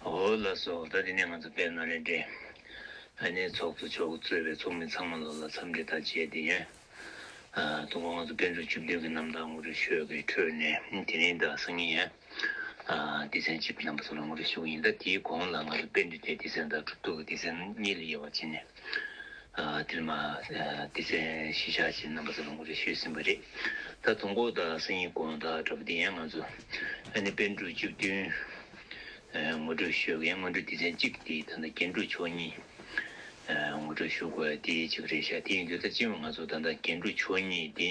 ཧོ། ལ་སོགས་ད་དེ་ནས་ང་ཚོ་དཔལ་ནཱ་ལེནྡྲའི་ཨ་ནེའི་ཚོགས་གཙོ་མཆོག་གཙོས་པའི་ཚོགས་མི་ཚང་མ་ལོ་ལ་འཚམས་འདྲི་དང་བཅས་དེ་ཡོན་དུ་འགོ་ང་ཚོ་དཔལ་འབྲུག་བཅུ་བདུན་གྱི་གནམ་བདག་ངུ་རུ་ཤོད་ཀྱི་ཁྲོད་ནས་དེ་རིང་དང་སང་ཉིན་ཡོན་སྡེ་ཚན་གཅིག་གི་རྣམ་པ་ཚོ་ལ་ངུ་རུ་ཞུ་གི་ཡིན་ད་དེའི་གོང་ལ་ང་ཚོ་དཔལ་འབྲུག་དེ་སྡེ་ཚན་དང་གྲུབ་ཐོབ་ཀྱི་སྡེ་ཚན་གཉིས་ལ་དབྱེ་བ་བྱས་ནས་དེར་མ་སྡེ་ཚན་བཞི་ཆགས་ཀྱི་རྣམ་པ་ཚོ་ལ་ངུ་རུ་ཤོད་ཟིན་པ་རེད་ད་དུང་གོ་ད་སང་ཉིན་གོང་ད་དྲ་བ་དེ་ཡན་ང་ཚོ་ཨ་ནེ་དཔལ་འབྲུག་བཅུ་བདུན། ངོ་སྤྲོད་ཞུ་མཁན་སྔོན་འགྲོ་སྡེ་ཚན་གཅིག་དེ་ད་ལྟ་རྒྱན་དྲུག་མཆོག་གཉིས། ངོ་སྤྲོད་ཞུ་དགོས་དེ་གཅིག་རེད་ཤག་དེ་ཡིན་དུས་ད་ཅི་ཡང་ང་ཚོ་ད་ལྟ་རྒྱན་དྲུག་མཆོག་གཉིས་དེ།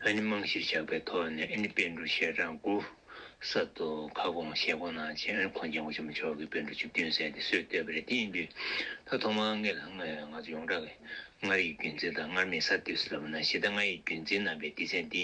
ཨ་ནི་རྨང་གཞིར་བཞག་པའི་ཐོག་ནས་ཨ་ནི་དཔེ་འགྲོ་ཤེས་གྲངས་དགུ། གསར་དུ་ཁ་སྐོང་བཤད་སྐོང་གནང་རྗེས་ཨ་ནི་ཁོང་རྒྱན་གོང་ཆེན་པོ་མཆོག་གི་དཔེ་འགྲོ་བཅུ་བདུན་ཟེར་དེ་སྲོལ་བཏོད་པ་རེད་དེ་ཡིན་དུས་ད་ཐོག་མར་ངེད་ལ་ང་ཚོ་ཡོངས་གྲགས་ཀྱིས་མངའ་རིས་རྒྱུན་འཛིན་དང་མངར་མེད་གསར་གཏོད་ཟེར་བ་ན་གཞི་བདག་མངའ་ཡི་རྒྱུན་འཛིན་རྣམ་པའི་སྡེ་ཚན་དེ།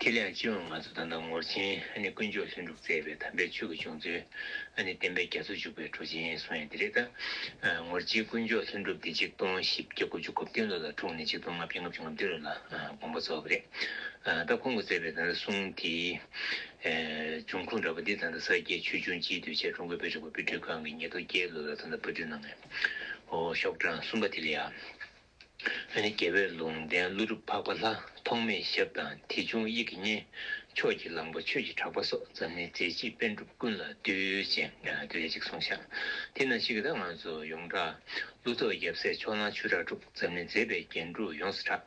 ཁྱེད་ལས་ཅི་འོས་ང་ཚོ་ད་ལྟ་ངོར་ཆེན་ནི་དཀོན་མཆོག་ལྷུན་གྲུབ་བཙས་པའི་དམ་པའི་ཆོས་ཀྱི་བྱུང་ཚུལ་ནི་བསྟན་པའི་རྒྱ་མཚོ་འཇུག་པའི་གྲུ་ཆེན་སོང་ཡ་འདི་རེད་ད། ངོར་ཆེན་དཀོན་མཆོག་ལྷུན་གྲུབ་འདི་གཅིག་སྟོང་བཞི་བརྒྱ་དགུ་བཅུ་གོ་བདུན་ལོ་ལ་འཁྲུངས་ནས་གཅིག་སྟོང་ལྔ་བརྒྱ་ལྔ་བཅུ་ང་བདུན་ལོ་ལ་དགོངས་པ་རྫོགས་པ་རེད་ད་ཁོང་གི་བཙས་པའི་ད་ལྟ་གསུང་དེའི་འབྱུང་ཁུངས་འདྲ་པོ་འདི་ད་ལྟ་ས་སྐྱའི་ཆོས་འབྱུང་སྤྱིའི་གདུལ་བྱ་ཀྲུང་གོའི་དཔེ་རིག་པ་པུའི་སྒྲིག་ཁང་གི་ཉིས་སྟོང་བརྒྱད་ལོ་ལ་ད་ལྟ་པུ་ཏུ་ནང་གི་ཤོག་གྲངས་གསུམ་པ་དེ་ལ་ཡང། རྒྱལ་བས་ལུང་བསྟན་ཀླུ་སྒྲུབ་འཕགས་པ་ལྷ་ཐོགས་མེད་ཞབས་དང་དེ་བྱུང་དབྱིག་གི་གཉེན། ཕྱོགས་ཀྱི་གླང་པོ་ཆོས་ཀྱི་གྲགས་པ་སོགས་འཛམ་གླིང་མཛེས་བརྗིད་དཔོན་གྲུབ་ཀུན་ལ་འདུད་ཅིང་བདེ་ལེགས་ཅིག་གསུང་ཤག་དེ་ན་ཞིག་གི་ད་ང་ཚོ་ཡོངས་གྲགས། ཀླུ་ཐོགས་རྒྱབ་སྲས་ཕྱོགས་གླང་ཆོས་གྲགས་གྲུབ་འཛམ་གླིང་མཛེས་པའི་རྒྱན་དྲུག་ཡོངས་སུ་གྲགས།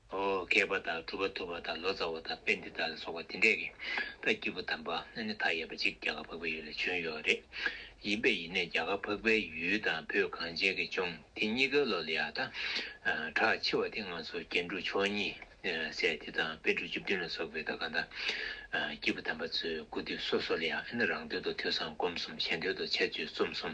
བསྐལ་པ་དང་གྲུབ་པ་ཐུབ་པ་དང་ལོ་ཙཱ་བ་དང་དཔེ་འདི་དག་ལ་སོགས་པ་དེ་འདྲས་ཀྱི་ད་སྐྱེས་བུ་དམ་པ་ཨ་ནི་ཐ་ཡས་པ་ཅིག་རྒྱ་གར་འཕགས་པའི་ཡུལ་ལས་བྱོན་ཡོད་རེད། ཡིན་པས་ཡིན་ནས་རྒྱ་གར་འཕགས་པའི་ཡུལ་དང་བོད་གངས་ཅན་གྱི་ལྗོངས་དེ་གཉིས་ཀའི་བློ་ལ་ཡག་དང། གྲགས་ཆེ་བ་དེ་ང་ཚོ་རྒྱན་དྲུག་མཆོག་གཉིས་སྲས་དེ་དང་དཔེ་དྲུག་བཅུ་བདུན་ལ་སོགས་པའི་ད་ག་ད་སྐྱེས་བུ་དམ་པ་ཚོའི་སྐུ་དུས་སོ་སོ་ལ་ཡང་ཨ་ནི་རང་དོན་དུ་ཐོས་བསམ་སྒོམ་གསུམ་གཞན་དོན་དུ་འཆད་རྩོད་རྩོམ་གསུམ།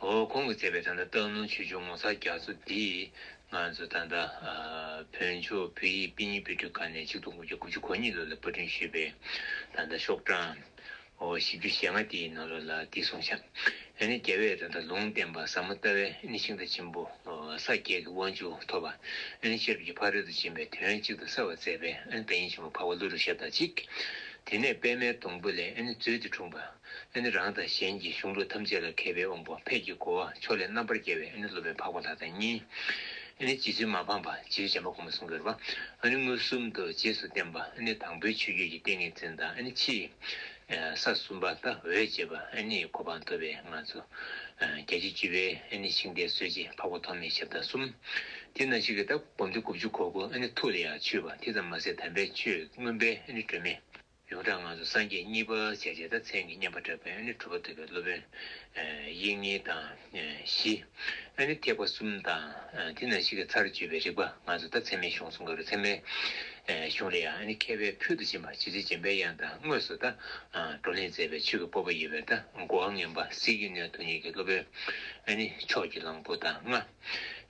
འོ་ཁོང་གི་བརྩེ་བའི་ད་ལྟ་སྟག་ལུང་ཆོས་འབྱུང་ངོ་མཚར་རྒྱ་མཚོ་འདི་ང་ཚོ་ད་ལྟ་བོན་ཆོས་བོད་ཡིག་དཔེ་རྙིང་དཔེ་སྐྲུན་ཁང་ནས་ཆིག་སྟོང་དགུ་བརྒྱ་དགུ་ཅུ་གོ་གཉིས་ལོ་ལ་དཔར་སྐྲུན་ཞུས་པའི་ད་ལྟ་ཤོག་གྲངས་བཞི་བཅུ་ཞེ་ལྔ་དེའི་ནང་ལོ་ལ་དེ་ཟུང་ཆ་ནས་རྒྱལ་བས་ད་ལྟ་ལུང་བསྟན་པ་ཟབ་མོ་ལྟ་བའི་ཤིང་རྟ་ཆེན་པོ་ས་བརྒྱད་ཀྱི་དབང་ཕྱུག་ཐོབ་པ་ཤེས་རབ་ཀྱི་ཕ་རོལ་ཏུ་ཕྱིན་པའི་དོན་གཅིག་ཏུ་གསལ་བར་མཛད་པའི་བདག་ཉིད་ཆེན་པོ་འཕགས་པ་ཀླུ་རུ་ཞབས་དང་གཅིག་དེ་ནས་པདྨའི་སྡོང་བུ་ལས་མཛོད་འདི་འཁྲུངས་པ། ཨེ་ནི་རང་དང་གཞན་གྱི་གཞུང་ལུགས་ཐམས་ཅད་ལ་མཁས་པའི་དབང་པོ་ཕས་ཀྱི་གོ་བ་ཕྱོགས་ལས་རྣམ་པར་རྒྱལ་བའི་ཨེ་ནི་སློབ་པའི་འཕགས་པ་ལྷ་དང་གཉིས། ཨེ་ནི་རྗེ་བཙུན་མ་འཕངས་པ་རྗེའུ་རྗེ་འབའ་ཀུ་མུ་སུ་འགོད་པ། ཨེ་ནི་མངོན་སུམ་དུ་རྗེས་སུ་བསྟན་པ་ཨེ་ནི་དང་པོའི་ཆོས་བརྒྱུད་ཀྱི་ཏིང་ངེ་འཛིན་དང་ཨེ་ནི་ཕྱིས། ས་གསུམ་པ་ལྟ་འོས་འབྱེད་པ་ཨེ་ནི་གོ་འཕང་ཐོབ་པའི་མངའ་གཙོ། རྒྱལ་བྱེད་བཅུ་པའི་ཨེ་ནི་ཤིང་རྟའི་སྲོལ་འབྱེད་འཕགས་པ་ཐོགས་མེད་ཞབས་བདག་གསུམ། དེ་ན་ཞིག་གི་ལྟ་བསྒོམ་སྟེ་དགུ་བཅུ་གོ་དགུ་ཨེ་ནི་ཐུགས་ལ་ཡང་ཆུད་པ་དེ་ཙམ་མ་ཟད་དམ་པའི་ཆོས་མངོན་པའི་ཨེ་ནི་སྒྲོན་མེ། ཡོངས་གྲགས་ངང་དུ་སངས་རྒྱས་གཉིས་པ་བྱས་རྗེས་ད་མཚན་གྱི་བསྙེན་པ་གྲགས་པའི་ཨ་ནི་གྲུབ་པ་ཐུབ་པའི་སློབ་དཔོན། དབྱིངས་ཉིད་དང་བཞི། ཨ་ནི་ཐེག་པ་གསུམ་དང། དེ་ན་ཞིག་གི་ཚར་གཅོད་པའི་རིགས་པ་ང་ཚོ་ད་མཚན་མའི་གཞུང་གསུང་གི་རུ་མཚན་མའི་གཞུང་ལ་ཡང་ཨ་ནི་མཁས་པའི་ཕུལ་དུ་བྱིན་པ་ཇི་སྲིད་སྦྱིན་པའི་དབྱངས་དང་དངོས་སུ་ད་བགྲོ་གླེང་མཛད་པའི་ཆོས་ཀྱི་སྤོབས་པ་ཡོད་པས་ད་མགོ་བ་ངན་པ་སྲིད་རྒྱུད་ནས་དུ་ཉིད་ཀྱི་སློབ་དཔོན་ཨ་ནི་ཕྱོགས་ཀྱི་གླང་པོ་དང་ལྔ།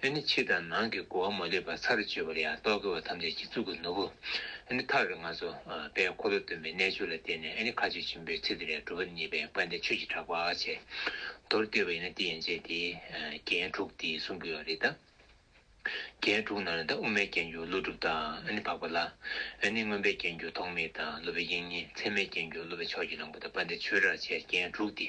ཨེ་ནི་ཕྱི་དང་ནང་གི་སྒོ་མ་ལས་པ་ཚར་གཅོད་པར་ཡང་རྟོག་གེ་བ་ཐམས་ཅད་ཀྱི་གཙུག་གི་ནོར་བུ། ཨེ་ནི་ཐག་རིང་ང་ཚོ་པའི་འཁོར་ལོ་སྟོན་པའི་རྣལ་འབྱོར་ལ་བརྟེན་ནས་ཨེ་ནི་མཁའ་སྤྱོད་ཆེན་པོའི་ཚིག་དེ་ལས་གྲུབ་པ་ནི་པའི་བཀའ་འདི་ཆོས་ཀྱི་གྲགས་པ་ཨ་ཆེ་མདོར་བསྡུས་པ་ཡིན་ན་འདི་ཡན་ཆད་དེ། རྒྱན་དྲུག་འདི་གསུང་གི་ཡོད་རེད་ད། རྒྱན་དྲུག་ནང་ནས་ད་དབུ་མའི་རྒྱན་གྱུར་ཀླུ་སྒྲུབ་དང་ཨེ་ནི་འཕགས་པ་ལ། ཨེ་ནི་མངོན་པའི་རྒྱན་གྱུར་ཐོགས་མེད་དང་སློབ་པའི་དབྱིངས་ཉིད་མཚན་མའི་རྒྱན་གྱུར་སློབ་པའི་ཕྱོགས་ཀྱི་བླང་པོ་དང་བཀའ་འདི་ཆོས་གྲགས་ཆེ་རྒྱན་དྲུག་འདི།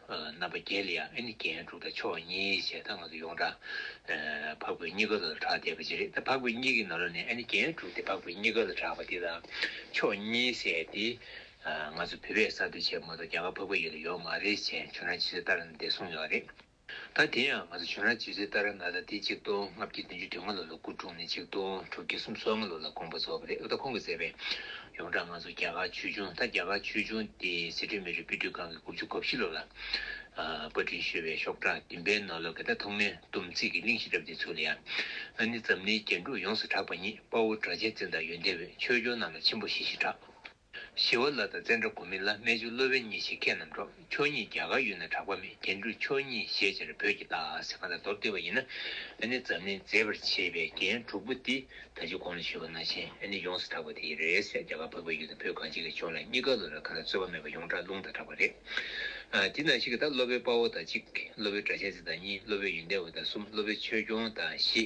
རྣམ་པ་བརྒྱད་ལ་ཡང་ཨེ་ནི་རྒྱན་དྲུག་དང་ཕྱོགས་གཉིས་ཞེས་ད་སྔ་གི་ཡོངས་གྲགས་འཕགས་བོད་གཉིས་ཀ་ལ་གྲགས་བསྡད་པ་ཅི་རེད་ད་འཕགས་བོད་གཉིས་ཀའི་ནང་ལ་ནི་ཨེ་ནི་རྒྱན་དྲུག་དེ་འཕགས་བོད་གཉིས་ཀ་ལ་གྲགས་པ་དེ་དང་ཕྱོགས་གཉིས་ཟེར་ཏེ། ང་ཚོ་བོད་པས་གསར་གཏོད་བྱས་མ་གཏོགས་རྒྱ་གར་འཕགས་བོད་ཡུལ་ལ་ཡོད་མ་རེད་ཅེས་ཇོ་ནང་ཇི་སྲིད་ལྟར་ན་བདེ་གསུངས་ཡོད་རེད། ད་དེ་ཡང་ང་ཚོ་ཇོ་ནང་ཇི་སྲིད་ལྟར་ན་ད་དེ་གཅིག་སྟོང་ལྔ་བརྒྱ་བདུན་ཅུ་དོན་ལྔ་ལོ་ལ་སྐུ་འཁྲུངས་ནས་གཅིག་སྟོང་དྲུག་བརྒྱ་གསུམ་སོ་ལྔ་ལོ་ལ་དགོངས་པ་རྫོགས་པ་རེད་འོ་ད་ཁོང་གིས་མཛད་པའི་ཡོངས་གྲགས་ང་ཚོ་རྒྱ་གར་ཆོས་འབྱུང་ད་རྒྱ་གར་ཆོས་འབྱུང་དེ་སི་ཁྲོན་མི་རིགས་དཔེ་སྐྲུན་ཁང་གིས་དགུ་བཅུ་གོ་བཞི་ལོ་ལ་པར་སྐྲུན་ཞུས་པའི་ཤོག་གྲངས་བདུན་པའི་ནང་ལོ་ག་དག་ཐོག་མའི་སྡོམ་ཚིག་གི་གླེང་གཞི་གྲབས་ཏེ་ཚུར་ལ་ཡང་ཨ་ནི་འཛམ་གླིང་རྒྱན་དྲུག་ཡོངས་སུ་གྲགས་པ་ཉིད་དཔའ་བོ་གྲགས་ཆེན་བཙན་དང་ཡོན་ཏན་འོད་ཆོས་སྐྱོང་རྣམས་ལ་ཆེན་པོ་ཞེས་ཞེས་གྲགས། ཞི་བ་ལ་དང་བཙན་བྲག་གོ་མི་ལ་རྨད་བྱུང་གློ་བའི་གཉེན་བཤེས་མཁས་རྣམས་གྲོགས། ཆོས་ཉིད་རྒྱ་གར་ཡུལ་ན་གྲགས་པ་མེད་རྒྱན་དྲུག་ཆོས་ཉིད་ཞེས་སྤྱིར་བོད་ཀྱི་རྟགས་ཟེར་གང་དང་དོར་བསྡུས་པ་ཡིན་ན་ཨ་ནི་འཛམ་གླིང་མཛེས་པར་བྱེད་པའི་རྒྱན་དྲུག་པོ་འདི་ད་ཅི་གོང་ལ་ཞུས་པ་ན་ཆེན་ཨ་ནི་ཡོངས་སུ་གྲགས་པ་དེ་ཡི་རེད་ཟེར་རྒྱ་གར་བོད་པ་ཡུལ་དང་བོད་གངས་སྐྱིད་ཀྱི་ཕྱོགས་ལ་གཉིས་ཀ་ལོ་ལ་གང་དང་རྩོད་པ་མེད་པར་ཡོངས་གྲགས་ལུང་དང་གྲགས་པ་རེད། དེ་ནང་བཞིན་གྱི་དང་བློ་བོའི་དཔའ་བོ་དང་གཅིག་བློ་བོའི་སྒྲ་གཞན་ཚིག་དང་གཉིས་བློ་བོའི་ཡོན་ཏན་བ་དང་གསུམ་བློ་བོའི་ཆོས་སྐྱོང་དང་བཞི།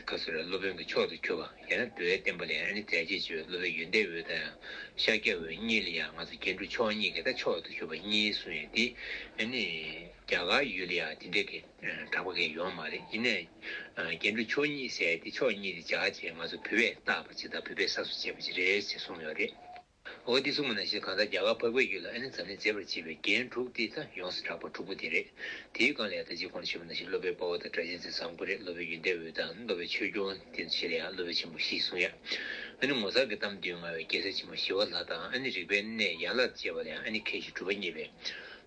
སྐབས་སུ་ར་སློབ་དཔོན་གྱི་མཆོག་ཏུ་གྱུར་པ་ཡང་ན་འགྲོ་བའི་བསྟན་པ་ལས་ཨ་ནི་རྫས་བརྒྱད་ཅེས་པའི་སློབ་པའི་ཡོན་ཏན་འོད་དང་ཡང་ཤཱཀྱ་འོད་གཉིས་ལ་ཡང་ང་ཚོ་རྒྱན་དྲུག་མཆོག་གཉིས་ཀྱི་ད་མཆོག་ཏུ་གྱུར་པ་གཉིས་གསུངས་ཡོད་དེ། ཨ་ནི། རྒྱ་གར་ཡུལ་ལ་ཡང་དེ་འདྲ་གི་གྲགས་པ་འགའ་ཡོང་མ་རེད་ཡིན་ནའི། རྒྱན་དྲུག་མཆོག་གཉིས་ཟེར་ཏེ་མཆོག་གཉིས་དེ་འཇགས་ཅེས་ང་ཚོ་བུད་པས་བཏགས་པ་ཅིག་དང་བུད་པས་ས་སོ་ཅེས་པ་ཅིག་རེད་ཅེས་གསུངས་ཡོད་རེད། ཨོ་ཏི་སུ་མོ་ནད་གཞི་གང་དག་རྒྱ་གར་འཕགས་པའི་ཡུལ་ལ་ཨེ་ནི་ཛམ་གླིང་མཛེས་པར་བྱེད་པའི་རྒྱན་དྲུག་སྟེ་ད་ཡོངས་སུ་གྲགས་པ་དྲུག་པོ་དེ་རེད། དེའི་སྒང་ལ་ཡང་དག་ཅིག་ཁོང་ནི་ཆེན་པོ་ནད་གཞི་སློབ་པའི་དཔའ་བོ་དང་སྒྲ་གཅན་ཚའི་བཟང་པོ་རེད་སློབ་པའི་ཡུལ་འདས་འོད་དང་སློབ་པའི་ཆོས་སྐྱོང་དེ་ཚོ་ཆེ་ལ་ཡང་སློབ་པའི་ཆེན་པོ་བཞི་གསུང་ཡ། ཨེ་ནི་ངོ་མཚར་གྱི་གཏམ་དུས་ང་བའི་རྒྱལ་སྲས་ཆེན་པོ་ཞི་བ་ལྷ་དང་ཨེ་ནི་རིག་པའི་གནས་ཡན་ལག་ཅེས་པ་ལ་ཡང་ཨེ་ནི་མཁས་ཤིང་གྲུབ་པ་བརྙེས་པའི་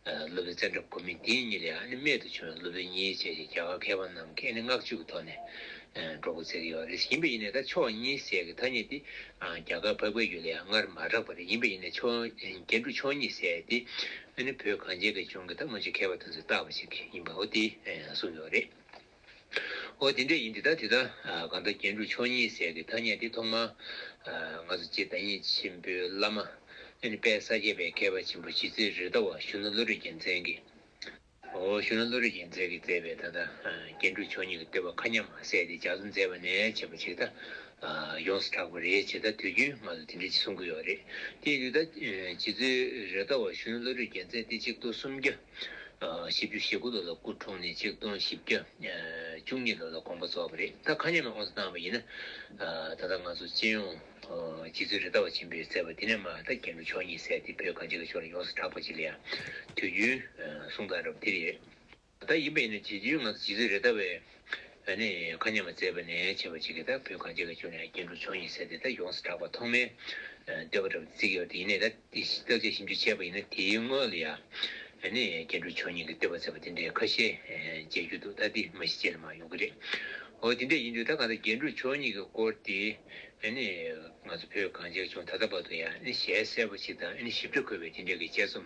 སློབ་པའི་ཙནྡྲ་གོ་མི་དེ་གཉིས་ལ་ཡང་ཨེ་ནི་རྨད་དུ་བྱུང་བའི་སློབ་པའི་གཉིས་བྱས་ཞེས་རྒྱ་གར་མཁས་པ་རྣམས་ཀྱིས་ཨེ་ནི་བསྔགས་བརྗོད་ཀྱི་ཐོག་ནས་འབྲོག་པ་ཟེར་གྱི་ཡོད་རེད་ཡིན་པས་ཡིན་ནས་ད་ཕྱོགས་གཉིས་ཟེར་གྱི་ཐ་སྙད་དེ་རྒྱ་གར་འཕགས་པའི་རྒྱུད་ལས་སྔར་མ་གྲགས་པ་རེད་ཡིན་པས་ཡིན་ནས་ཕྱོགས་རྒྱན་དྲུག་ཕྱོགས་གཉིས་ཟེར་ཏེ་ཨ་ནི་བོད་གངས་ཅན་གྱི་ལྗོངས་ཀྱི་ད་སྔོན་ཆེད་མཁས་པ་དང་ཚོད་ལྟ་བ་ཞིག་ཡིན་པའོ་དེས་གསུངས་ཡོད་རེད། འོ་དེ་འདྲ་ཡིན་དེ་ད་དེ་ད་གང་ད་རྒྱན་དྲུག་ཕྱོགས་གཉིས་ཟེར་གྱི་ཐ་སྙད་དེ་ཐོག་མར་ང་ཚོ་རྗེ་བདག་ཉིད་ཆེན་པོའི་བླ་མ་ཨ་ནི་དཔལ་ས་སྐྱ་པའི་མཁས་པ་ཆེན་པོ་གཞིས་རྩེ་རི་ཟླ་བ་གཞོན་ནུ་བློ་གྲོས་རྒྱལ་མཚན་གྱིས། འོ་ཞུ་ན་བློ་རིག་ཅིང་རྫས་ཀྱིས་མཛད་པའི་ད་ལྟ་རྒྱན་དྲུག་མཆོག་ཉིད་ཀྱི་བསྟོད་པ་མཁའ་མཉམ་མ་ཟད་དེ་ལྗགས་སུ་མཛད་པ་ནས་བྱེད་པ་ཞིག་ད་ཡོངས་སུ་གྲགས་པ་རེད་བྱས་ད་དུས་རྒྱུན་ང་ལ་དེ་འདྲའི་གསུང་གི་ཡོད་རེད་དེ་ཡིན་དུས་ད་ཇི་ཚོད་རེད་ད་འོ་ཞུ་ན་བློ་རིག་རྒྱན་མཛད་དེ་གཅིག་སྟོང་སུམ་བརྒྱ་བཞི་བཅུ་ཞེ་དགུ་ལོ་ལ་སྐུ་འཁྲུངས་ནས་གཅིག་སྟོང་བཞི་བརྒྱ་བཅུ་གཉིས་ལོ་ལ་དགོངས་པ་རྫོགས་པ་རེད་ད་མཁའ་མཉམ་ལ་དབང་བསོ་བཏང་བ་ཡིན་ན་ད་ལྟ་ང་ཚོ་སྤྱི་ཡོངས། རྗེ་བཙུན་རི་ཟླ་བ་ཆེན་པོས་བསྩལ་བ་འདི་ནས་མ་ཧཱ་ད་གན་གྱི་ཆོས་ཉིད་གསལ་ཏེ་བོད་གངས་ཅན་གྱི་ཆོས་ལ་ཡོངས་སུ་གྲགས་པ་ཅིག་ལ་ཡང་དུས་རྒྱུན་གསུང་དང་རབ་འདི་རེད། ད་ཡིན་པས་ནི་དུས་རྒྱུན་ང་ཚོ་རྗེ་བཙུན་རི་ཟླ་བས་ནས་མཁའ་མཉམ་པར་བསྩལ་བ་ནས་བྱེད་པ་ཅིག་གིས་ད་བོད་གངས་ཅན་གྱི་ཆོས་ལ་ཡང་རྒྱན་དྲུག་ཆོས་ཉིད་གསལ་ཏེ་ད་ཡོངས་སུ་གྲགས་པ་ཐོག་མའི་བསྟོད་པ་རབ་འདི་ཚིག་གི་བར་དུ་ཡེ་ནས་ད་དེ་ཞེས་བཏགས་ཏེ་ཞིབ་འཇུག་བྱས་པ་ཡིན་ན་དེའི་དངོས་ལ་ཡང་ནི་རྒྱ་འགྲོ་ཆོས་ཉིད་ཀྱི་བསྟོད་པ་མཛད་པ་དེ་འདྲའི་ཁ་ཤས་མཇལ་རྒྱུ་འདུག་ད་ལྟའི་མ་གཞི་བྱས་ལ་མ་ཡོང་གི་རེད། འོ་དེ་འདྲ་ཡིན་དུས་ད་ག་ལ་རྒྱ་འགྲོ་ཆོས་ཉིད་ཀྱི་སྐོར་དེ་ནི་ང་ཚོ་བོད་གངས་ཅན་ཆུང་ད་ལྟ་བར་དུ་ཡང་ནི་ཞལ་གསལ་བ་ཞིག་དང་ཞིབ་ཕྲ་འཁོད་པའི་དེ་འདྲའི་གི་དཔྱད་རྩོམ་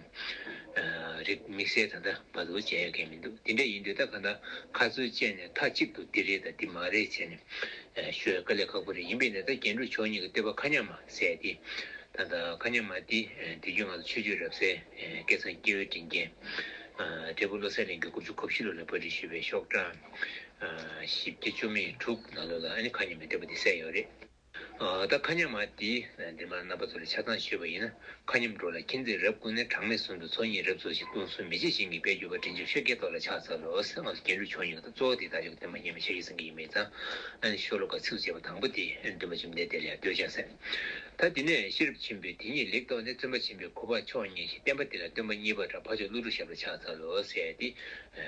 རེ་དམིགས་བསལ་ད་ལྟ་བར་དུ་མཇལ་ཡོད་མཁན་མི་འདུག་དེ་འདྲ་ཡིན་དུས་ད་ག་ལ་ཁ་རྩོད་བཅད་ནས་མཐའ་གཅིག་ཏུ་འདི་རེད་དང་འདི་མ་རེད་བྱས་ནས་ཤོད་ག་ལས་ཁག་པོ་རེད་ཡིན་པས་ན་ད་རྒྱ་འགྲོ་ཆོས་ཉིད་ཀྱི་བསྟོད་པ་ཁ་ཉམས་མ། གསལ་ཏེ། ད་ལྟ་ཀ་ཉག་མ་ཏི་དེ་རྒྱུད་ང་ཚོ་ཆོས་རྒྱུད་རབ་གསལ་སྐལ་བཟང་སྐྱེ་བོའི་དྲིན་ཅན། འབྲས་བུ་བློ་གསལ་གླིང་གི་དགུ་བཅུ་གོ་བཞི་ལོ་ལ་པར་འབྲི་ཞུས་པའི་ཤོག་གྲངས་བཞི་བརྒྱ་བཅོ་མི་དྲུག་ནང་ལོ་ལ་ཨ་ནི་ཁ་ཉོ་མི་འདོད་པ་དེ་གསལ་ཡོད་རེད། ད་ལྟ་ཁ་ཉག་མ་ཏི་འདི་མར་རྣམ་པ་ཚོ་ལ་ཆ་ཚང་ཞུས་པ་ཡིན་ན་ཁ་ཉོ་མི་འགྲོ་ལ་མཁྱེན་བརྩེ་རབ་ཀུན་ནས་གྲངས་མེད་གསུང་དུ་ཚོགས་གཉིས་རབ་ཚོགས་ཤིག་སྟོང་གསུམ་མི་ཕྱེད་བཞེངས་ཀྱི་དཔལ་གྱུར་པ་དྲིན་ཆེན་ཆོས་རྒྱལ་ཐོག་ལ་ཕྱག་འཚལ་ལོ་ཟེར་སྔགས་སུ་རྒྱན་དྲུག་ཕྱོགས་གཉིས་ཀ་དང། གཙོ་བོ་དེ་དག་ཡོད་པ་དེ་མ་རྙེད་པའི་ཕྱིར་ཡིད་བཟང་གི་ཡིད་མི་བཟང། ཤོ་ལོ་ཀ་ཚིགས་བཅད་པ་དང་པོ་དེ་འདུན་པ་བཅོམ་ལྡན་འདས་ལ་ཡང་ལྟོས་བྱ་ཟེར། ད་དེ་ནས་ཤེས་རབ་ཆེན་པོས་དེ་ཉིད་ལེགས་རྟོགས་ནས་བརྩོན་པ་ཆེན་པོས་གོ་བ་ཆོས་ཉིད་ཞེས་བསྟན་པ་དེ་ལ་སྟོན་པ་གཉིས་པ་འདྲ་འཕགས་མཆོག་ཀླུ་སྒྲུབ་ཞབས་ལ་ཕྱག་འཚལ་ལོ་ཟེར་ཏེ།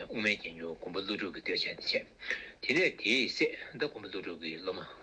དབུ་མའི་རྒྱན་གྱུར་མགོན་པོ་ཀླུ་སྒྲུབ་ཀྱིས་ལྟོས་བྱས་ཏེ་འཆད། དེ་ནས་དེས་སྲས་བདག་མགོན་པོ་ཀླུ་སྒྲུབ་ཀྱི་སློབ་མ།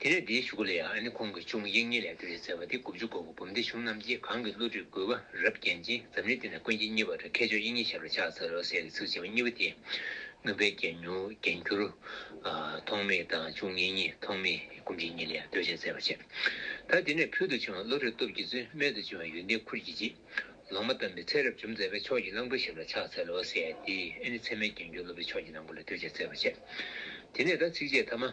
དེ་ནས་དེའི་ཤུགས་ལས་ཨ་ནི་ཁོང་གི་ཆུང་མ་ཡིག་རྙིང་ལས་སྒྲོལ་ཞེས་ཟེར་བ་དེ་དགུ་བཅུ་གོ་དགུ་འབུམ་སྡེ་གཞུང་རྣམས་ཀྱིས་གང་གི་བློ་གྲོས་རྒོད་པོ་རབ་བརྒྱན་ཅིང་འཛམ་གླིང་འདི་ན་དཀོན་གྱི་གཉིས་པ་རེད་མཁས་མཆོག་དབྱིག་གཉེན་ཞབས་ལ་ཕྱག་འཚལ་ལོ་ཟེར་གྱི་ཚིག་བྱེད་པ་གཉིས་པ་དེ། མུན་པའི་རྒྱན་ཉུང་རྒྱན་འགྱུར། ཐོགས་མེད་དང་ཆུང་གཉེན་གཉིས་ཐོགས་མེད་དཀོན་གྱི་གཉིས་ལས་སྒྲོལ་ཞེས་ཟེར་བ་བྱས། ད་དེ་ནས་ཕུལ་དུ་བྱུང་བ་བློ་གྲོས་སྟོབས་ཀྱིས་རྩོད་མེད་དུ་བྱུང་བའི་ཡོན་ཏན་ཁུར་གྱིས་བརྗིད། ལོང་མ་བལྟམས་པའི་ཚེ་རབ་བྱུང་མཛད་པའི་ཕྱོགས་ཀྱི་གླང་པོའི་ཞབས་ལ་ཕྱག་འཚལ་ལོ་ཟེར་ཏེ་ཨ་ནི་ཚད་མའི་རྒྱན་འགྱུར་སློབ་པའི་ཕྱོགས་ཀྱི་ནང་པོ་ལ་སྒྲོལ་ཞེས་ཟེར་བ་བྱས། དེ་ནས་ད་ཚིགས་བཅད་ཐ་མ།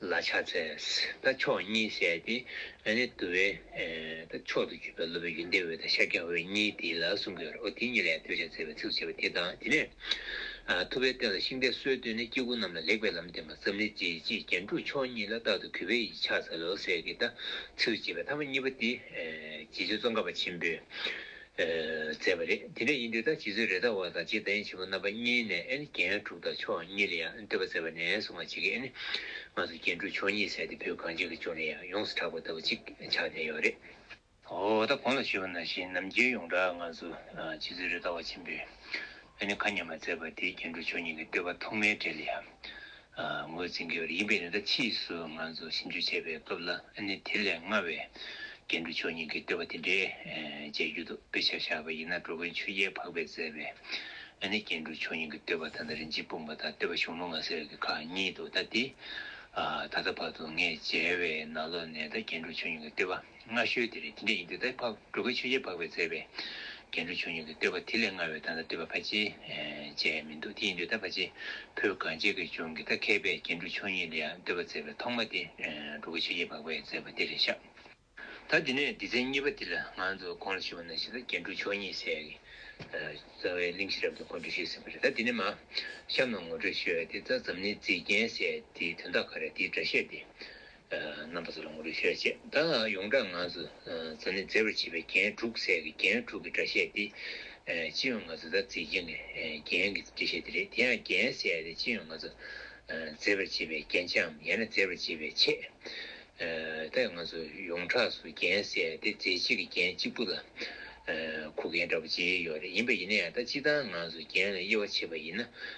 ལ་ཕྱག་འཚལ། ད་ཕྱོགས་གཉིས་བཤད་དེ། ཨ་ནི་དུ་བའི། ད་ཕྱོགས་དུ་གྱུར་པའི་སློབ་དཔོན་ཡོན་ཏན་འོད་དང་ཤཱཀྱ་འོད་གཉིས་དེ་ལ་གསུང་གི་རོ་དེ་གཉིས་ལས་འདོད་ཆགས་བཙལ་བའི་ཚིག་ཏུ་བྱས་པ་དེ་དང་དེ་ནས། ཐུབ་པའི་རྟེན་ལ་ཤིང་རྟའི་སྲོལ་བཏོད་ནས་སྐྱེ་དགུ་རྣམས་ལ་ལེགས་པའི་ལམ་བསྟན་པ་ཙམ་ལས་རྗེ་བརྗིད་རྒྱན་དྲུག་མཆོག་གཉིས་ལ་རྟག་ཏུ་གུས་པས་ཡིས་ཕྱག་འཚལ་ལོ་ཟེར་གྱི་ད་ཚིག་ཏུ་བྱས་པའི་ཐ་མ་གཉིས་པ་དེ། རྗེ་བཙུན་ཙོང་ཁ་པ་ཆེན་པོས། མཛད་པ་རེད། དེ་འདྲ་ཡིན་དུས་ད་ཇི་ཚོད་རེ་ད་བ་དང་རྗེ་ད་ཡན་ཆེན་པོ་རྣམ་པ་གཉིས་ནས་རྒྱན་དྲུག་དང་ཆོག་གཉིས་ལ་ཡང་འདོད་པ་མཛད་པ་ནས་བཟུང་ང་གཅིག་གིས་ང་ཚོ་རྒྱན་དྲུག་ཆོག་གཉིས་ཟེར་ཏེ་བོད་གངས་ཅན་གྱི་ལྗོངས་ནས་ཡང་ཡོངས་སུ་གྲགས་པ་ལྟ་བུ་གཅིག་ཆགས་བསྡད་ཡོད་རེད། འོ་ད་གང་ལ་ཞུས་པ་ན་ཞེས་ནམ་རྒྱུན་ཡོངས་གྲགས་ང་ཚོ་ཇི་ཚོད་རེ་ད་བ་ཆེན་པོས་ཨ་ནི་ཁ་ཉན་མ་མཛད་པ་དེ་རྒྱན་དྲུག་ཆོག་གཉིས་ཀྱི་བསྟོད་པ་ཐོག་མའི་གྲས་ལ་ཡང་ངོས་འཛིན་དགོས་པ་ཡིན་པས་ནི་ད་ཕྱིས་སུ་ང་ཚོ་ཞིབ་འཇུག་བྱེད་པའི་སྐབས་ལ་ནི་དེ་ལས་སྔ་བའི་རྒྱན་དྲུག་མཆོག་གཉིས་ཀྱི་བསྟོད་པ་དེ་འདྲའི་མཇལ་རྒྱུ་འདུག་དཔེ་ཆ་བཞག་པ་ཡིན་ན་འགྲོ་མགོན་ཆོས་རྒྱལ་འཕགས་པས་མཛད་པའི་ནི་རྒྱན་དྲུག་མཆོག་གཉིས་ཀྱི་བསྟོད་པ་ད་ལྟ་རིན་ཆེན་སྤུངས་པ་དང་བསྟོད་པ་གཞུང་ལུང་ལ་ཟེར་གྱི་ཁག་གཉིས་འདུག་ད་དེ། ད་ལྟ་བར་དུ་ངས་མཇལ་བའི་ན་ལོ་ནས་ད་རྒྱན་དྲུག་མཆོག་གཉིས་ཀྱི་བསྟོད་པ། སྔ་ཤོས་དེ་རེད་དེ་འདྲ་ཡིན་དུས་དྭགས་ཕག་གྲུ་ག་ཆོས་རྗེ་འཕགས་པས་མཛད་པའི། རྒྱན་དྲུག་ཆོས་ཉིད་ཀྱི་བསྟོད་པ་དེ་ལས་སྔ་བའི་ད་ལྟ་བསྟོད་པ་ཕལ་ཆེ་བྱས་མི་འདུག་དེ་ཡིན་དུས་ད་ཕ་ཆེ་ཕོས་གངས་ཅན་གྱི་ལྗོངས་ཀྱི་ད་མཁས་པའི་རྒྱན་དྲུག་ཆོས་ཉིད་ལ་ཡང་བསྟོད་པ་མཛད་པའི་ཐོག་མ་དེ་གྲུ་ག་ཆོས་རྗེ་འཕགས་པས་མཛད་པ་དེ་རེད་ཤག། ད་དེ་ནས་སྡེ་ཚན་གཉིས་པ་དེ་ལ་ང་ཚོས་གོང་ལ་ཞུས་པ་ན་ཤི་ད་རྒྱན་དྲུག་ཆོས་ཉིད་ཟེར་གི། རྩ་བའི་གླིང་ཤེས་རབ་ཏུ་གོ་འབྲི་ཤེས་ཟེར་བ་རེད་ད་དེ་ནས་མ་གཤམ་ན་ངོ་སྤྲོད་ཞུས་བ་དེ་རྩ་འཛམ་གླིང་མཛེས་རྒྱན་ཟེར་དེའི་དོན་དག་ག་རེ་དེའི་སྒྲ་བཤད་དེ། རྣམ་པ་ཚོ་ལ་ངོ་རྒོལ་ཆེ་ར་བྱེད་ད་ཡོང་དྲ་ང་ཚོ་ཚ་ནི་མཛེས་པར་བྱེད་པའི་རྒྱན་དྲུག་ཚད་ཀྱི་རྒྱན་དྲུག་གི་སྒྲ་བཤད་དེ་སྤྱི་ཡོངས་ང་ཚོ་དར་རྩེ་གྱེན་གྱི་རྒྱན་གྱི་སྒྲ་བཤད་དེ་རེད་དེ་ཡང་རྒྱན་བཤད་དེ་སྤྱི་ཡོངས་ང་ཚོ་མཛེས་པར་བྱེད་པའི་རྒྱན་ཆའམ་ཡང་ན་མཛེས་པར་བྱེད་པའི་ཆས་ད་ང་ཚོ་ཡོངས་གྲགས་སུ་རྒྱན་བཤད་དེ་མཛེས་བྱེད་ཀྱི་རྒྱན་གཅིག་པུ་ལ་གོ་མཁན་འདྲ་པོ་བརྗེ་ཡོད་རེད་ཡིན་པ་ཡིན་ན་ཡང་ད་སྤྱི་དང་ང་ཚོ་རྒྱན་ལ་དབྱེ་བ་ཕྱེས་པ་ཡིན་ན་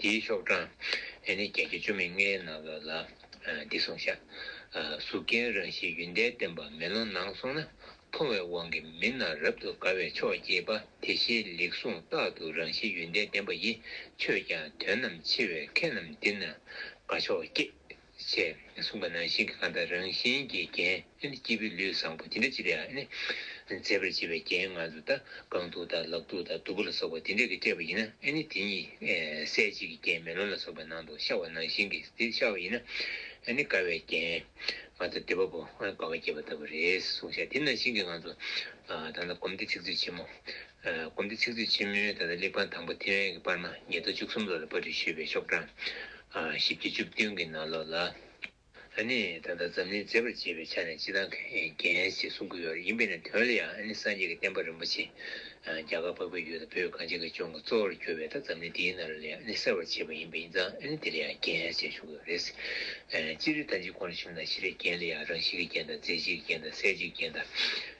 དེའི་ཤོག་གྲངས་ཨེ་ནི་བརྒྱད་ཁྲི་བཅོ་མི་ལྔའི་ནང་ལོད་ལ། འདི་གསུངས་བཞག། གཟུགས་རྒྱན་རང་བཞིན་ཡུན་ཏན་བརྟན་པ་མེ་ལོང་ནང་སོང་ན་མཐོང་བའི་དབང་གིས་མི་རྣམས་རབ་ཏུ་དགའ་བའི་ཕྱོགས་སྐྱེས་པ་དེ་བཞིན་ལེགས་གསུངས་རྟག་ཏུ་རང་བཞིན་ཡུན་ཏན་བརྟན་པ་ཡི་ཆོས་ཀྱང་དོན་རྣམས་ཕྱེ་བས་མཁས་རྣམས་འདི་ན་དགའ་ཕྱོགས་སྐྱེས། ཞེས་གསུངས་པ་ནང་བཞིན་གྱི་ཁམས་དང་རང་བཞིན་གྱི་རྒྱན། སྐྱེས་བུའི་ལུས་བཟང་པོ་དེ་འདྲ་ཅི་རེ་ཨ་ནི། མཛེས་པར་བྱེད་པའི་རྒྱན་ལྔ་མཛུབ་དང་རྐང་ཐུག་དང་ལག་ཐུག་དང་གདུ་བུ་ལ་སོགས་པ་དེ་འདྲས་ཀྱིས་སྤྲས་པ་ཡིན་ན་ཨ་ནི་དེ་གཉིས་གསལ་བྱེད་ཀྱི་རྒྱན་མེ་ལོང་ལ་སོགས་པའི་ནང་དུ་ཤར་བ་ནང་བཞིན་གྱིས་དེ་ཤར་བ་ཡིན་ན་ཨ་ནི་དགའ་བའི་རྒྱན། མ་ཐོབ་དད་པ་པོ་དགའ་བ་སྐྱེས་པ་ལྟ་བུ་རེད་གསུངས་བྱ་དེ་ནང་བཞིན་གྱི་ང་ཚོ་ད་ལྟ་སྒོམ་སྡེ་ཚིག་མཛོད་ཆེན་མོ་དགོན་སྡེ་ཚིག་མཛོད་ཆེན་མོའི་ད་ལྟ་གླེགས་བམ་དང་པོ་ཐེ་ཝན་གྱི་པར་མ་ཉིས་སྟོང་བཅུ་གསུམ་ལོ་ལ་པར་འབྲི་ཞུས་པའི་ཤོག་གྲངས་བཞི་བརྒྱ་བཅུ་བདུན་གྱི་ནང་ལོགས་ལ། ཨ་ནི་ད་ལྟ་འཛམ་གླིང་མཛེས་པར་བྱེད་པའི་ཆ་ནས་སྤྱི་དང་གན་ཞེས་གསུང་གི་ཡོད་རེད་ཡིན་པས་ན་དོན་ལ་ཡང་ཨ་ནི་སངས་རྒྱས་ཀྱི་བསྟན་པ་རིན་པོ་ཆེ་རྒྱ་གར་འཕགས་པའི་ཡུལ་དང་བོད་གངས་ཅན་གྱི་ལྗོངས་ཀྱི་གཙོ་བོར་གྱུར་བས་ད་འཛམ་གླིང་འདིའི་ནང་ལ་ལས་ཨ་ནི་གསར་བར་བྱེད་པ་ཡིན་པས་ཡིན་ཙང་ཨ་ནི་དེ་ལ་ཡང་གན་ཞེས་གསུང་གི་ཡོད་རེད། སྤྱིར་ད་འཇིག་གོང་ལ་བཞུགས་ན་གཞི་ལས་རྒྱན་ལ་ཡང་རང་བཞིན་གྱི་རྒྱན་དང་མཛེས་བྱེད་ཀྱི་རྒྱན་དང་གསལ་བྱེད་ཀྱི་རྒྱན་དང།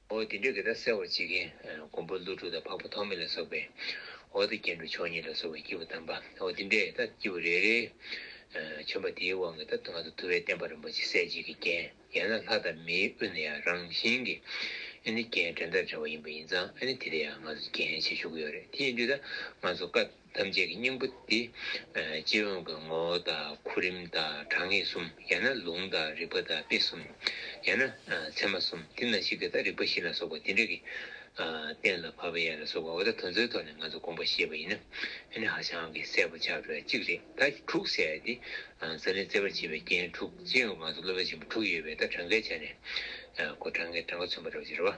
འོ་དེ་འདྲའི་གེ་སར་གསལ་བར་བྱེད་མཁན། མགོན་པོ་ཀླུ་སྒྲུབ་དང་འཕགས་པ་ཐོགས་མེད་ལ་སོགས་པའི། འོ་དེ་རྒྱན་དྲུག་མཆོག་གཉིས་ལ་སོགས་པའི་སྐྱེས་བུ་དམ་པ། འོ་དེ་འདྲའི་ད་སྐྱེས་བུ་རེ་རེའི། བྱོན་པ་དེའི་དབང་གིས་ད་ང་ཚོ་དུ་བའི་བསྟན་པ་རིན་པོ་ཆེ་གསལ་བྱེད་ཀྱི་རྒྱན། ཡང་ན་ལྷ་དང་མིའི་དབུས་ན་ཡང་རང་བཞིན་གྱི། ཨེ་ནི་རྒྱན་འགྲེལ་མཐའ་བྲལ་བ་ཡིན་པ་ཡིན་ཙང་ཨེ་ནི་དེ་དེ་ཡང་ང་ཚོ་རྒྱན་ཞེས་ཞུ་གི་ཡོད་རེད་དེ་ཡིན་དུས་ད་ང་ཚོ་བཀའ། ཐམས་ཅད་ཀྱི་སྙིང་པོ་འདི། སྤྱི་ཡོངས་ཀྱི་ངོ་བོ་དང་གོ་རིམ་དང་དྲང་ངེས་གསུམ་ཡང་ན་ལུང་དང་རིགས་པ་དང་དཔེ་གསུམ་ཡང་ན་ཚད་མ་གསུམ་དེ་ན་ཞིག་གི་དང་རིགས་པ་བཞི་ལ་སོགས་པ་དེ་འདྲ་གི། གཏན་ལ་ཕབ་པ་ཡན་ལ་སོགས་པ་འོ་ད་དོན་ཚོའི་ཐོག་ནས་ང་ཚོ་དགོངས་པ་ཞེས་པ་ཡིན་ན་ནི་ཧ་ཅང་གི་གསལ་པོ་ཆགས་པས་གཅིག་རེད་ད་གི་དྲུག་བསལ་ཏེ། ཟ་ལན་བཙལ་བར་བྱེད་པའི་རྐྱེན་དྲུག་སྤྱི་ཡོངས་ཀྱི་ང་ཚོ་སློབ་པའི་ཆེན་པོ་དྲུག་ཡོད་པས་ད་དྲང་གའི་ཆ་ནས་གོ་དྲང་ངེས་དྲང་ག་མཚོན་པ་རེད་བ་ཅི་རེད་བ།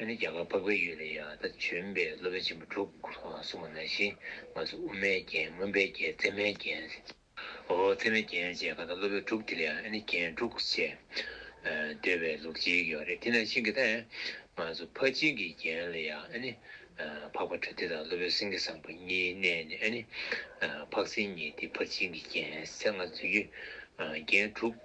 ཨ་ནི་རྒྱ་གར་འཕགས་པའི་ཡུལ་ལ་ཡང་དག་བྱོན་པའི་སློབ་དཔོན་ཆེན་པོ་དྲུག་གསུངས་པ་ནང་བཞིན་ང་ཚོ་དབུ་མའི་རྒྱན་སྔོན་པའི་རྒྱན་ཚད་མའི་རྒྱན། འོ་ཚད་མའི་རྒྱན་བཅས་གང་ལྟར་སློབ་དཔོན་དྲུག་དེ་ལ་ཡང་ཨ་ནི་རྒྱན་དྲུག་ཅེས་འདོད་པའི་ལུགས་གཅིག་ཡོད་རེད་དེ་ནང་བཞིན་གྱི་ལྟ། ང་ཚོ་ཕ་སྦྱིན་གྱི་རྒྱན་ལ་ཡང་ཨ་ནི་འཕགས་པ་དྲུག་དེ་དང་སློབ་དཔོན་སེང་གེ་བཟང་པོ་གཉིས་བསྣན་ནས་ཨ་ནི་འཕགས་སེང་གཉིས་ཏེ་ཕ་སྦྱིན་གྱི་རྒྱན་ཚད་ལྔ་འཛུད་རྒྱུ་རྒྱན་དྲུག།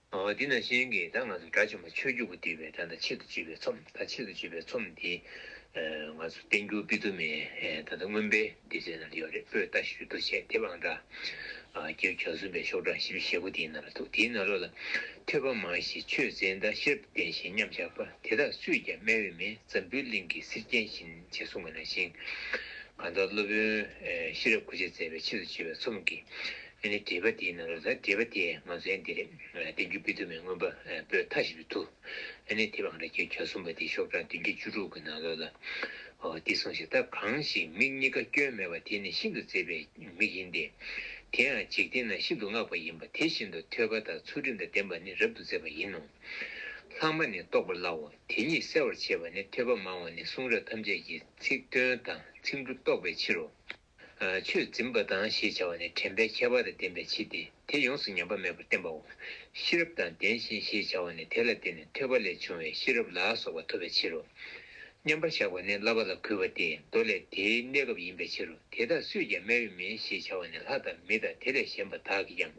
འོ་དེས་ན་གཞན་གྱིས་ད་ང་ཚོ་དགྲ་བཅོམ་པ་ཆོས་བརྒྱུད་པོ་བསྡུས་པའི་དགྲ་ད་ཆེད་དུ་བཅུས་པའི་ཚོམ་ད་ཆེད་དུ་བཅུས་པའི་ཚོམ་འདི་ང་ཚོ་བསྟན་འགྱུར་པི་ཏུ་མའི་ད་ད་མངོན་པའི་འདི་ཚོའི་ནང་དུ་ཡོད་རེད་པོས་ལྟ་ཞུས་འདུག་བྱས་དེབ་ཨང་དྲྭགྱ་བརྒྱ་གསུམ་པའི་ཤོག་གྲངས་བཞི་བཅུ་ཞེ་དགུ་དེའི་ནང་ལ་འདུག་དེའི་ནང་ལོ་ལ་ཐོས་པ་མང་ཞིག་ཆོས་མཛད་ཟླ་ཤེལ་བདེ་བཞིན་མཉམ་བཞག་པ་དེ་དག་སུས་ཀྱང་སྨད་འོས་མེད་འཛམ་བུའི་གླིང་གི་གསེར་རྒྱན་བཞིན་བྱས་གསུང་བ་ནང་བཞིན་གང་ལྟར་སློབ་དཔོན་ཤེས་རབ་ཁུ་བྱེ་མཛད་པའི་ཆེད་དུ་བཅུས་པའི་ཚོམ་གྱི་ཨེ་ནི་དྲེས་པ་དེའི་ནང་རོ། དྲེས་པ་དེས་ང་ཚོའི་འདི་རེད། བསྟན་འགྱུར་དཔེ་དུ་མའི་མངོན་པ་པོའི་མཐའ་ཞིག་ཏུ་ཐུག། ཨེ་ནི་དེ་བང་ར་གྱི་གྱ་གསུམ་པ་དེ་ཤོག་གྲངས་བདུན་བརྒྱ་བཅུ་དྲུག་གི་ནང་ལོགས་ལ། འོ་འདི་སོང་ཞིག་ད་གང་ཞིག་མིག་གཉིས་ཀ་སྐྱོན་མེད་པ་དེ་ནི་ཤིན་ཏུ་མཛེས་པའི་མིག་ཡིན་ཏེ། དེ་ཡང་འཇིག་རྟེན་ན་ཤིན་ཏུ་བསྔགས་པ་ཡིན་པ་དེ་བཞིན་དུ་ཐོས་པ་དང་ཚུལ་ཁྲིམས་དང་ལྡན་པ་ནི་རབ་ཏུ་མཛེས་པ་ཡིན་ནོ། ལྷག་མ་ནི་རྟོགས་པར་སླའོ། དེ་ཉིད་གསལ་བར་བྱེད་པ་ནི་ཐོས་པ་མང་བ་ནི་གསུང་རབ་ཐམས་ཅད་ཀྱི་ཚིག་དོན་དང་ཚིག་འབྲུ་རྟོགས་པའི་ཕྱིར་རོ། ཆོས་འཛིན་པ་དང་ཞེས་བྱ་བ་ནི་དྲན་པའི་ཁྱད་པར་ལ་བརྟེན་པའི་ཕྱིར་ཏེ་དེ་ཡོངས་སུ་ཉམས་པ་མེད་པར་བསྟན་པའོ། ཤེས་རབ་དང་ལྡན་ཞིང་ཞེས་བྱ་བ་ནི་དེ་ལ་བརྟེན་ནས་ཐོས་པ་ལས་བྱུང་བའི་ཤེས་རབ་ལ་སོགས་པ་ཐོབ་པའི་ཕྱིར་རོ། མཉམ་པར་གཞག་པ་ནི་བསླབ་པ་ལ་གུས་པ་སྟེ་མདོ་ལས་དེའི་གནས་སྐབས་ཡིན་པའི་ཕྱིར་རོ་དེ་དག་སུས་ཀྱང་སྨད་བས་མིན་ཞེས་བྱ་བ་ནི་ལྷ་དང་མི་དང་དེ་ལས་གཞན་པ་དག་གིས་ཀྱང་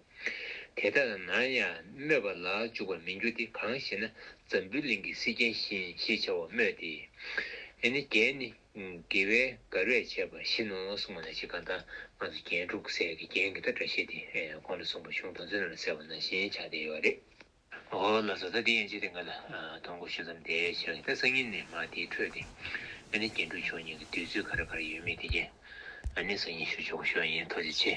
དེ་ལྟར་ན་ཡང་སྨོད་པ་ལ་འཇུག་པར་མི་འགྱུར་ཏེ་གང་ཞེ་ན་ཛམྦུའི་གླིང་གི་སེར་སྐྱའི་བཞིན་ཞེས་བྱ་བ་སྨོས་ཏེ། ནི་རྒྱན་ནི། དགེ་བའི་གར་བས་བྱས་པ་བཞིན་ནོ་གསུངས་པ་ན་ཅིག་ག་འདའ་ང་ཚོ་རྒྱན་དྲུག་བསལ་གྱི་རྒྱན་གྱི་ད་སྒྲ་ཤེས་ཏེ་གོང་དུ་གསུངས་པ་གཞུང་དང་མཚོན་ལ་གསལ་བ་ན་བཞིན་བྱ་བདེ་བ་རེད། ཨོ་ལ་བཟོ་ལྟ་འདི་ཡན་ཆད་དེ་ང་ལ་དོང་གོ་ཤུ་ཙམ་དེ་བྱས་ལ་དེ་སང་ཉིན་ནས་མ་དེའི་འཕྲོས་ཏེ་ཨ་ནི་རྒྱན་དྲུག་ཆོས་ཉིད་ཀྱི་བསྡུས་ཚུལ་ག་རེ་ག་རེ་ཡོད་མེད་དེ་རྒྱན་ཨ་ནི་སང་ཉིན་ཞུ་ཆོག་གོ་ཤོ་ཡིན་ཐོ་ཅི་ཆེ།